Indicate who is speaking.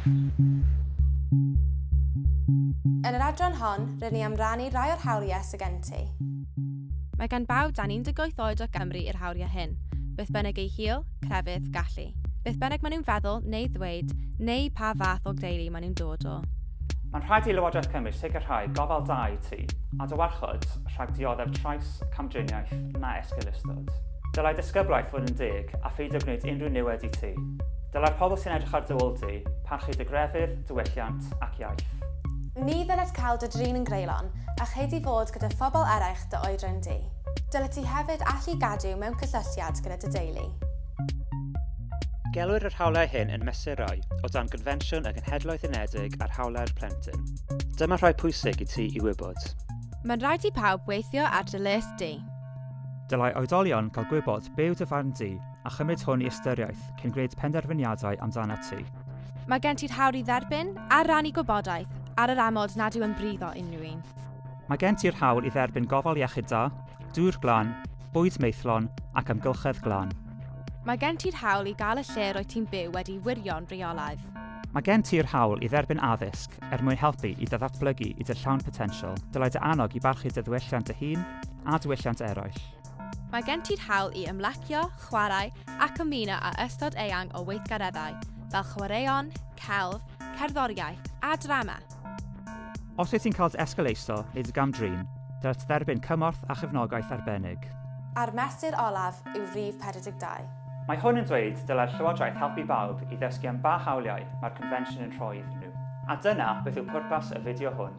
Speaker 1: Yn yr adran hon, rŷn ni am rannu rhai o'r hawliau sydd gen ti. Mae
Speaker 2: gan bawb dan 18 oed o Gymru yr hawliau hyn, beth bynnag eu hil, crefydd, gallu, beth bynnag maen nhw'n feddwl neu ddweud, neu pa fath o deulu maen nhw'n dod o. Mae'n rhaid i
Speaker 3: Lywodraeth Cymru sicrhau gofal da i ti, a dy warchod rhag dioddef trais, camdriniaeth na esgeulustod. Dylai disgyblaeth fod yn deg a pheidio gwneud unrhyw niwed i ti. Dylai'r pobl sy'n edrych ar dy ôl di parchu dy grefydd, diwylliant ac iaith. Ni ddylet
Speaker 1: cael dy drin yn greulon a ched i fod gyda phobl eraill dy oedran di. Dylet ti hefyd allu gadw mewn cysylltiad gyda dy deulu.
Speaker 3: Gelwir yr hawliau hyn yn mesurau o dan Gonfensiwn y Genhedloedd Unedig ar Hawliau'r Plentyn. Dyma rhai pwysig i ti i wybod. Mae'n rhaid i
Speaker 2: pawb weithio ar dy lles di. Dylai
Speaker 3: oedolion cael gwybod be yw dy farn di a chymryd hwn i ystyriaeth cyn gwneud penderfyniadau amdanat ti. Mae gen ti'r
Speaker 2: hawr i dderbyn a rannu gwybodaeth ar yr amod nad yw'n brifo unrhyw un. Mae gen ti'r
Speaker 3: hawl i dderbyn gofal iechyd da, dŵr glan, bwyd maethlon ac amgylchedd glan. Mae gen ti'r
Speaker 2: hawl i gael y lle roedd ti'n byw wedi wirio'n rheolaidd. Mae gen ti'r
Speaker 3: hawl i dderbyn addysg er mwyn helpu i dy ddatblygu i dy llawn potensial. Dylai dy annog i barchu dy ddiwylliant dy hun a diwylliant eraill. Mae gen ti'r
Speaker 2: hawl i ymlacio, chwarae ac ymuno â ystod eang o weithgareddau, fel chwaraeon, celf, cerddoriaeth a drama.
Speaker 3: Os wyt ti'n cael dy esgeulaetho neu dy gam-drin, dylent dderbyn cymorth a chefnogaeth arbennig. A'r mesur
Speaker 1: olaf yw rhif 42. Mae hwn yn dweud
Speaker 3: dylai'r Llywodraeth helpu bawb i ddysgu am ba hawliau mae'r Confensiwn yn rhoi iddyn nhw. A dyna beth yw pwrpas y fideo hwn.